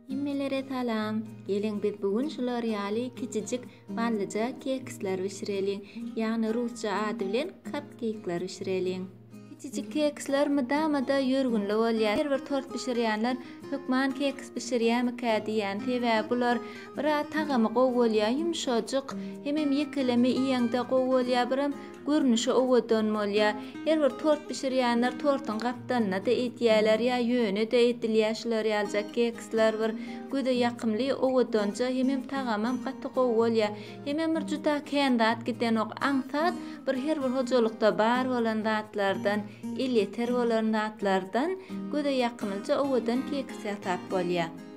Hemmelere salam! Geliň biz bu gün şular ýaly kiçijik ballyja keksler bişireliň, ýagny rusça ady bilen kapkeýkler bişireliň. Kiçijik keksler mydama-da ýörgünli bolýar. Her bir tort bişirýänler hökman keks bişirýärmikä diýýän, sebäbi bular biraz tagamy gowy bolýar, ýumşajyk, hemem ýekeleme iýeňde gowy bolýar, biram Görnüşi owadan bolýar. Her bir tort bişirýänler tortuň gapdalyna-da edýäler ýa ýöne-de edilýär şular ýalyjak keksler bir göze ýakymly, owadanja hemem tagamam gaty gowy bolýar. Hemem bir juda kän zat gidenok. Aňsat bir her bir hojalykda bar bolan zatlardan, elýeter bolan zatlardan göze ýakymlyja owadan keks ýasap bolýar.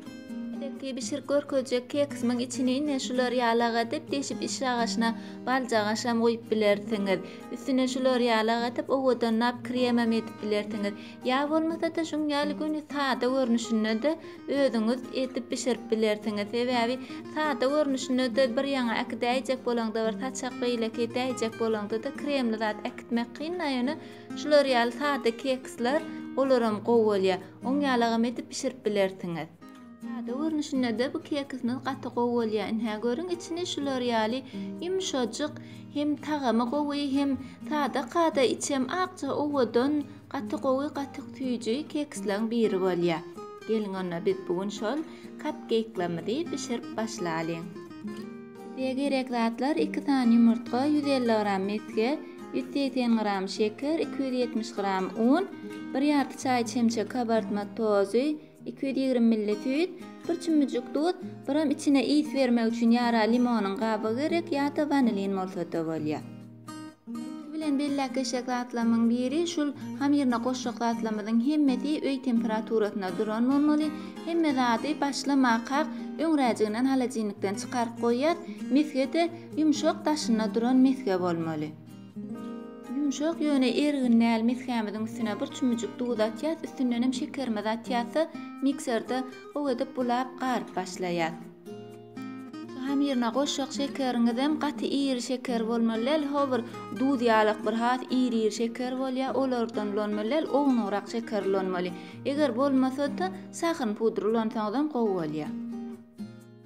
Elbetde bişirip görkezjek keksimiň içini ine şular ýalak edip deşip iş agaçyna baljagaşam goýup bilersiňiz. Üstüne şular ýalak edip owadanlap kremem edip bilersiňiz. Ýa bolmasa-da şuň ýaly göni sada görnüşinde-de özüňiz edip bişirip bilersiňiz. Sebäbi sada görnüşinde-de bir ýaňa äkidäýjek bolaňda bir saçak beýleki edäýjek bolaňda-da kremli zat äkitmek kyn-a ýöne şular ýaly sada keksler olaram gowy bolýar. Oň ýalagam edip bişirip bilersiňiz. Sada görnüşindede bu kekisimiz gaty gowy bolýar. Inhä görüň içini şular ýaly ýumşajyk hem tagamy gowy hem sada kada içem akja owadan gaty gowy gaty süýji kekislaň biri bolýar. Geliň onda biz bu gün şol kapkeýklamyzy bişirip başlalyň. Size gerek zatlar iki sany ýumurtga, ýüz elli gram mesge, ýüz segsen gram şeker, iki ýüz ýetmiş gram un, bir ýarty çaý çemçe kabartma tozy, iki ýüz ýigrimi milli süýt, bir çümmüjik duz, biram içine ys bermek üçin ýara limonyň gabygy gerek ýa-da wanilin bolsa-da bolýar. Üsti bilen belläp geçjek zatlamyň biri şul hamyryna goşjak zatlamyzyň hemmesi öý temperaturasynda duran bolmaly. Hemme zady başlamakak öňräjiginden holodilnikden çykaryp goýýas. Mesgede ýumşak daşynda duran mesge bolmaly. Ýumşak ýöne ergin däl mesgämiziň üstüne bir çümüjik duz atýas, üstündenem şekerimizi atýas-da mikserde gowy edip bulap garyp başlaýas. Hamyryna goşjak şekeriňizem gaty iri şeker bolmaly däl, ho bir duz ýalak bir has iri-iri şeker bolýar, olardan ulanmaly däl, ownugrak şeker ulanmaly. Eger bolmasa-da, sahyn pudry ulansaňyzam gowy bolýar.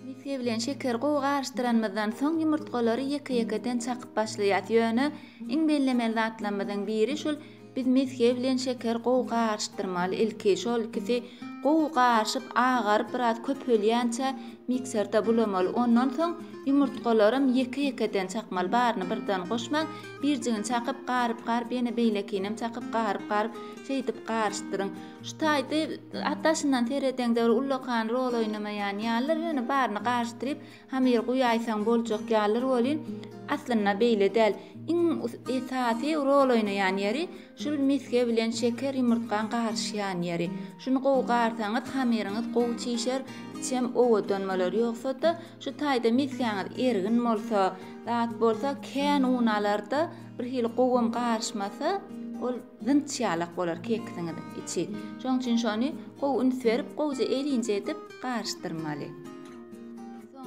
Misge bilen şekeri gowy garyşdyranymyzdan soň, ýumurtgalary ýeke-ýekeden çakyp başlaýarys. Ýöne iň bellemeli zatlarymyzyň biri şul Biz mesge bilen şeker gowy garyşdyrmaly ilki şol ikisi gowy garyşyp agaryp biraz köpelýänçä mikserde bulamaly ondan soň ýumurtgalaram ýeke ýekeden çakmaly baryny birden goşmaň birjigini çakyp garyp garyp ýene beýlekinem çakyp garyp garyp şeýdip garyşdyryň şu taýda daşyndan seredeňde bir ullakan rol oýnamaýan ýalydyr ýöne baryny garyşdyryp Hamyry guýaýsaň boljak ýalydyr welin, aslynda beýle däl. Iň esasy rol oýnaýan ýeri, şul misge bilen şeker ýumurtgaň garyşýan ýeri. Şuny gowy garsaňyz, hamyryňyz gowy çişer, içem owadan bolar. Ýogsa-da, şu taýda misgäňiz ergin bolsa, zat bolsa, kän un alar-da, birhili gowam garyşmasa, ol Zynç ýalak bolar kekisiňiz içi. Şoň üçin şony gowy üns berip, gowja elinje edip garyşdyrmaly.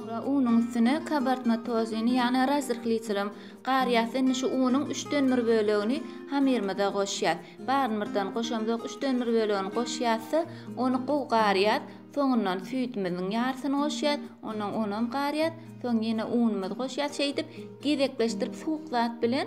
Soňra unuň üstüne kabartma tozini, ýagny razryhliçilim, garýas. Indi şu unuň üçden bir bölegini hamyrymyza goşýas. Baryny birden goşamzok, üçden bir bölegini goşýas-da, ony gowy garýas. Soňundan süýdümiziň ýarysyny goşýas, ondan onam garýas. Soň ýene unumyzy goşýas. Şeýdip, gezekleşdirip suwuk zat bilen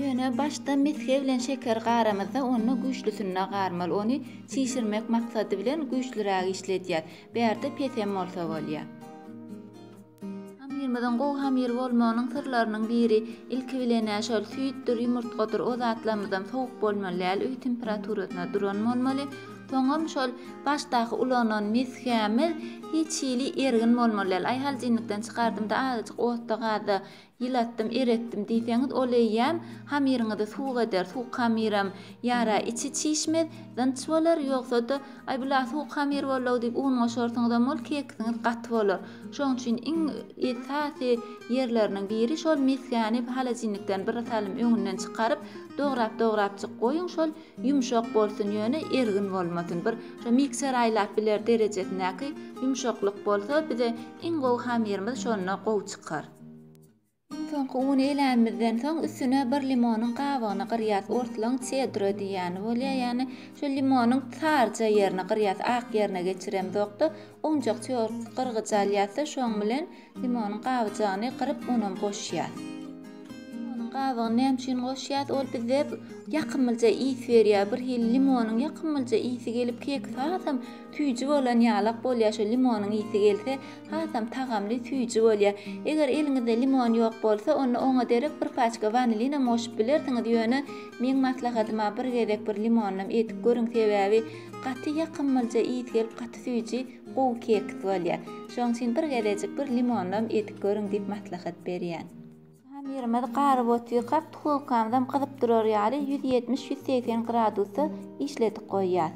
Ýöne başda mesge bilen şekeri garamyzda onda güýçlüsinde garmaly, ony çişirmek maksady bilen güýçlüräk işledýär. Bärde pesem bolsa bolýar. Hamyrymyzyň gowy hamyr bolmagynyň syrlarynyň biri, ilki bilenä şol süýtdür, ýumurtgadyr, o zatlarymyzam sowuk bolmaly däl, öý temperaturasynda duran bolmaly. Soňam şol başdaky ulanan mesgämiz hiç hili ergin bolmaly däl. Aýhaljynlykdan çykardymda azajyk otda-gazda Ýylatdym, eretdim diýseňiz, ol eýýäm hamyryňyzy suwuk eder, suwuk hamyram ýara, içi çişmez, dynç bolar, ýogsa-da, Aý, bu-la suwuk hamyr boldy-ow diýip un goşarsyňyzam, ol kekisiňiz gaty bolar. Şonuň üçin iň esasy ýerleriniň biri, şol mesgäni holodilnikden bir salym öňünden çykaryp, dograp-dograpjyk goýuň, şol ýumşak bolsun, ýöne ergin bolmasyn, bir şo mikser aýlap biler derejesindäki ýumşaklyk bolsa, bize iň gowy hamyrymyz şonda gowy çykar. Iň soňky uny eläýmizden soň üstüne bir limonyň gabygyny gyrýas orslaň çedro diýýäni bolýa ýagny şu limonyň saryja ýerini gyrýas ak ýerine geçiremzokda owunjak çörek gyrgyjy alýasda şoň bilen limonyň gabyjagyny gyryp onam goşýas limonyň gabygyny näme üçin goşýas ol bizde ýakymlyja ys berýär bir hili limonyň ýakymlyja ysy gelip kek sazam süýji bolan ýalak bolýar şo limonyň ysy gelse Hasam tagamly, süýji bolýar. Eger eliňizde limon ýok bolsa, onda oňa derek bir paçka wanilin hem goşup bilersiňiz, ýöne meň maslahatyma bir gezek bir limonlam edip görüň, sebäbi gaty ýakymlja ys gelip gaty süýji, gowy keks bolýar. Şoň üçin bir gezejik bir limonlam edip görüň diýip maslahat berýän. Ýaşan ýerimiz garyp otyrkak tkolkamyzam gyzyp durar ýaly ýüz ýetmiş, ýüz segsen gradusda işledip goýýas.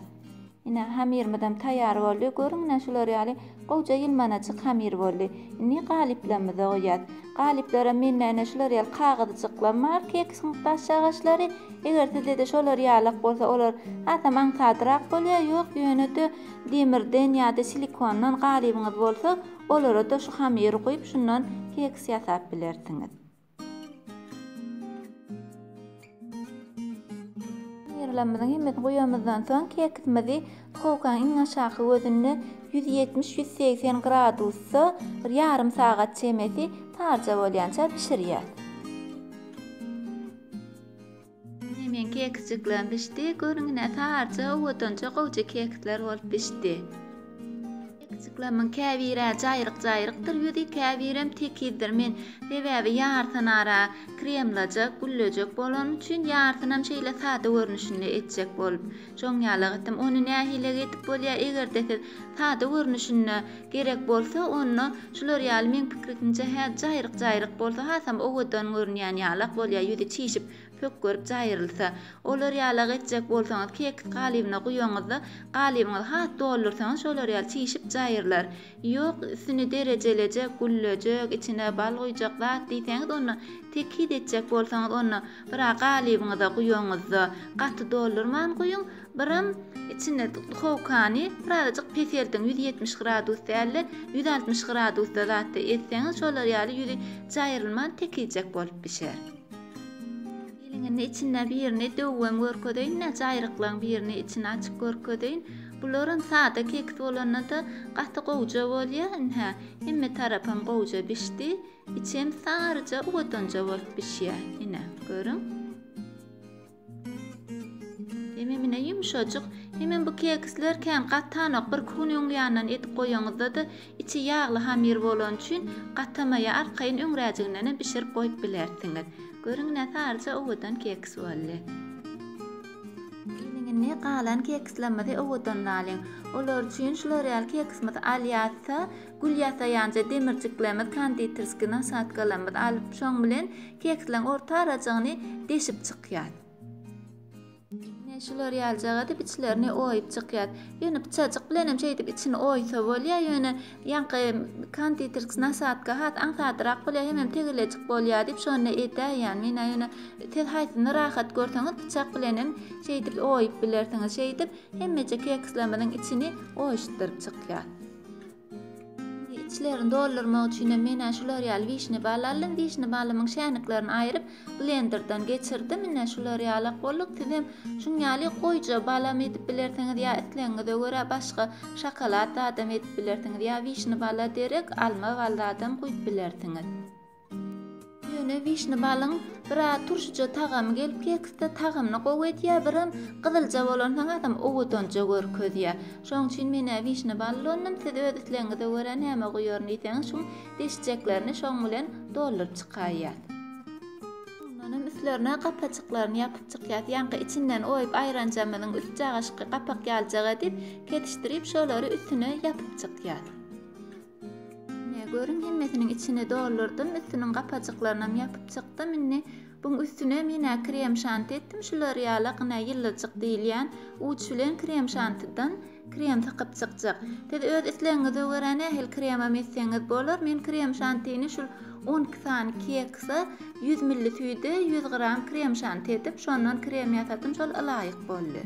Ine, hamyrymyzam taýýar boldy. Görüň, ine, şular ýaly gowja ýylmanaçyk hamyr boldy. Indi galyplarymyza goýýas. Galyplara mende, ine, şular ýaly kagyzjyklam bar, keksiň daş agaçlary. Eger sizde-de şolar ýalak bolsa, olar hasam aňsadrak bolýar. Ýok, ýöne-de demirden ýa-da silikondan galybyňyz bolsa, Olara-da şu hamyry guýup, şundan keks ýasap bilersiňiz. Hamyrlarymyzyň hemmesini guýanymyzdan soň, keksimizi duhowkanyň iň aşaky gözünde ýüz ýetmiş, ýüz segsen gradusda bir ýarym sagat çemesi tarja bolýança bişirýäs. Ine meň kekijiklem bişdi. Görüň ine saryja owadanja gowja kekisler bolup bişdi. Kekijiklemiň käbiri jaýryk-jaýrykdyr ýüzi, käbirem tekizdir. Men sebäbi ýarysyny ara kremlajak, güllejek bolan üçin ýarysynam şeýle sada görnüşinde etjek bolup. Şoň ýaly gytym. Ony nähile gidip bolýar, eger-de siz sada görnüşinde gerek bolsa, onda şular ýaly meň pikrikimçe hä jaýryk-jaýryk bolsa, hasam owadan görünýän ýalak bolýar, ýüzi çişip, pökgerip jaýrylsa. Olar ýalak etjek bolsaňyz, keks galybyna guýaňyzda, galybyňyzy has doldursaňyz, şolar ýaly çişip jaýrylar. Ýok, üstüni derejeleje güllejek, içine bal guýjak zat diýseňiz, onda tekiz etjek bolsaňyz, onda bir-ä galybyňyza guýaňyzda, gaty doldurman guýuň, biram içine duhowkany birazajyk peseldiň, ýüz ýetmiş gradus däl-de, ýüz altmyş gradusda zatda etseňiz, şolar ýaly ýüzi jaýrylman tekizjek bolup bişer. Indi içinde birini döwem görkezeýin, näçe aýryklygyň birini içini açyp görkezeýin. Bularam sada keks bolanda-da gaty gowja bolýar. Indi hä, hemme tarapam gowja bişdi. Içem saryja, owadanja bolup bişýär. Ine, görüň. Hememine ýumşajyk. Hemem bu keksler kän gatanok, bir kuny öň ýandan edip goýaňyzda-da, içi ýagly hamyr bolany üçin gatamaýar, arkaýyn öňräjiginenem bişirip goýup bilersiňiz. Görüň näsaryja owadan keks boldy. Gelin indi galan kekslerimizi owadanlalyň. Olar üçin şular ýaly keksimizi alýarys-da, Gül ýasaýanja demirjiklerimiz, konditerskiý nasadkalarymyzy alyp, şoň bilen keksleň orta arajygyny deşip çykýas. Ine, şular ýalyjak edip içlerini oýup çykýas. Ýöne pyçajyk bilen hem şeýdip içini oýsa bolýar, ýöne ýaňky konditerskiý nasadka has aňsadrak bolýar, hemem tegelejik bolýar diýip, şonda edäýýän men-ä. Ýöne siz haýsyny rahat görseňiz, pyçak bilen hem şeýdip oýup bilersiňiz. Şeýdip, hemmeje kekslerimiziň içini oýuşdyryp çykýas. içlerini doldurmak üçin hem menä şular ýaly wişne bal aldym wişne balymyň şäniklerini aýryp blenderdan geçirdim ine şular ýalak bolduk siz hem şuň ýaly goýja balam edip bilersiňiz ýa islegiňize görä başga şokolad zadam edip bilersiňiz ýa wişne bala derek alma bal zadam guýup bilersiňiz Ýöne wişne balyň bir az turşyja tagamy gelip keksde tagamyny gowy edýär, birem gyzylja bolan saňasam owadanja görkezýär. Şoň üçin men-ä wişne bal ulandym, siz öz islegiňize görä näme guýaryn diýseňiz şuň deşjeklerini şoň bilen dolduryp çykaýýas. Soňlanam üstlerine gapajyklaryny ýapyp çykýas. Ýaňky içinden oýup aýranjamyzyň üst jagaşyky gapak ýaljak edip, ketişdirip şolary üstüne ýapyp çykýas. Ine, görüň, hemmesiniň içini doldurdym, üstüniň gapajyklarynam ýapyp çykdym. Indi buň üstüne men krem şanti etdim, şu L'Oreal-a gyna ýylyjyk diýilýän uç bilen krem şantidan krem sykyp çykjak. Siz öz islegiňize görä nähili kremem etseňiz bolar. Men krem şantini şul on iki sany kekse ýüz milli süýde ýüz gram krem şanti edip, şondan krem ýasadym, şol ylaýyk boldy.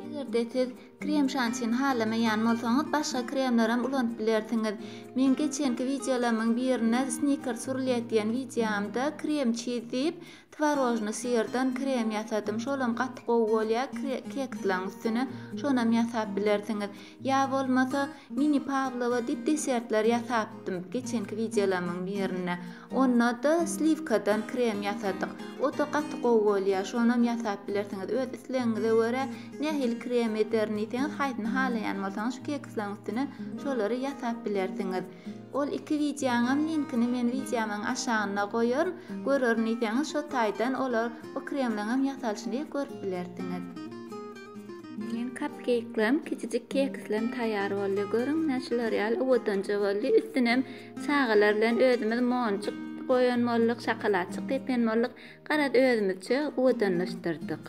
Eger-de siz Krem şantini halamaýan bolsaňyz, başga kremlerem ulanyp bilersiňiz. Men geçenki wideolarymyň birinde snickers wrlýet diýen wideomda krem çiz diýip, twarožnyý syrdan krem ýasadym. Şolam gaty gowy bolýar kekslaryň üstüne. Şonam ýasap bilersiňiz. Ýa bolmasa, mini pawlowa diýip desertler ýasapdym geçenki wideolarymyň birinde. Onda-da sliwkadan krem ýasadyk. O-da gaty gowy bolýar. Şonam ýasap bilersiňiz. Öz islegiňize görä, nähili krem ederin diýseňiz, haýsyny halaýan bolsaňyz, şu kekislaryň üstüne şolary ýasap bilersiňiz. Ol iki wideoňam linkini men wideomyň aşagynda goýaryn. Görerin diýseňiz, şo taýdan olar, o kremleňem ýasalyşyny görüp bilersiňiz. Meň kapkeýklerim, kiçijik kekislerim taýýar boldy. Görüň, näçe şular ýaly owadanja boldy. Üstünem Çagalar bilen özümiz monjuk goýan bolduk, şakalatjyk depýän bolduk. Garaz, özümizçe owadanlaşdyrdyk.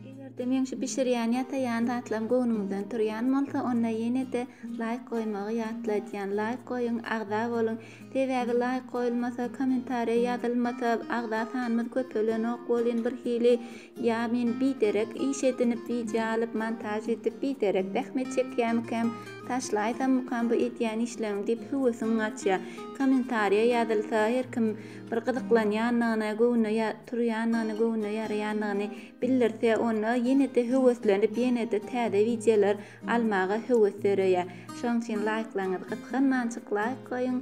Eger-de meň şu bişirýän, ýasaýan zatlarym göwnüňizden turýan bolsa, onda ýene-de laýk goýmagy ýatladýan. Laýk goýuň, agza boluň. Sebäbi laýk goýulmasa, kommentariýa ýazylmasa, agza sanymyz köpelenok welin birhili Ýa men biderek iş edinip wideo alyp montaž edip biderek zähmet çekýämikäm taşlaýsammykam bu edýän işleriňi diýip höwesiň gaçýa kommentariýa ýazylsa her kim bir gyzyklanýanyny göwnüne turýanyny göwnüne ýaraýanyny bildirse onda ýenede höweslenip ýenede täze wideolar almaga höwes döreýär şoň üçin laýklaňyz gysganmançyk laýk goýuň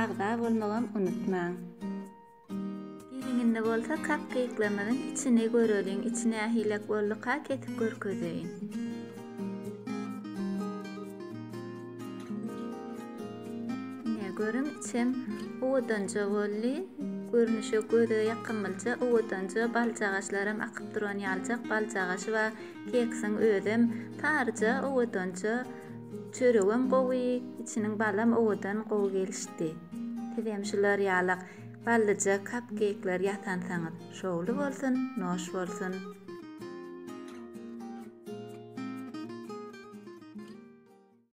agza bolmagam unutmaň. Geliňinde bolsa kak gyýyklarymyzyň içini göreliň, içi nähilek bolduka kesip görkezeýin. Görüň içem owadanja boldy. Görnüşe göze ýakymlyja, owadanja baljagaşlaram akyp duran ýaljak baljagaşy bar. Keksiň özem taryja, owadanja. Çöregem gowy, içiniň balam owadan, gowy gelişdi. Sizem şular ýalak ballyja kapkeýkler ýasansaňyz şowly bolsun, noş bolsun!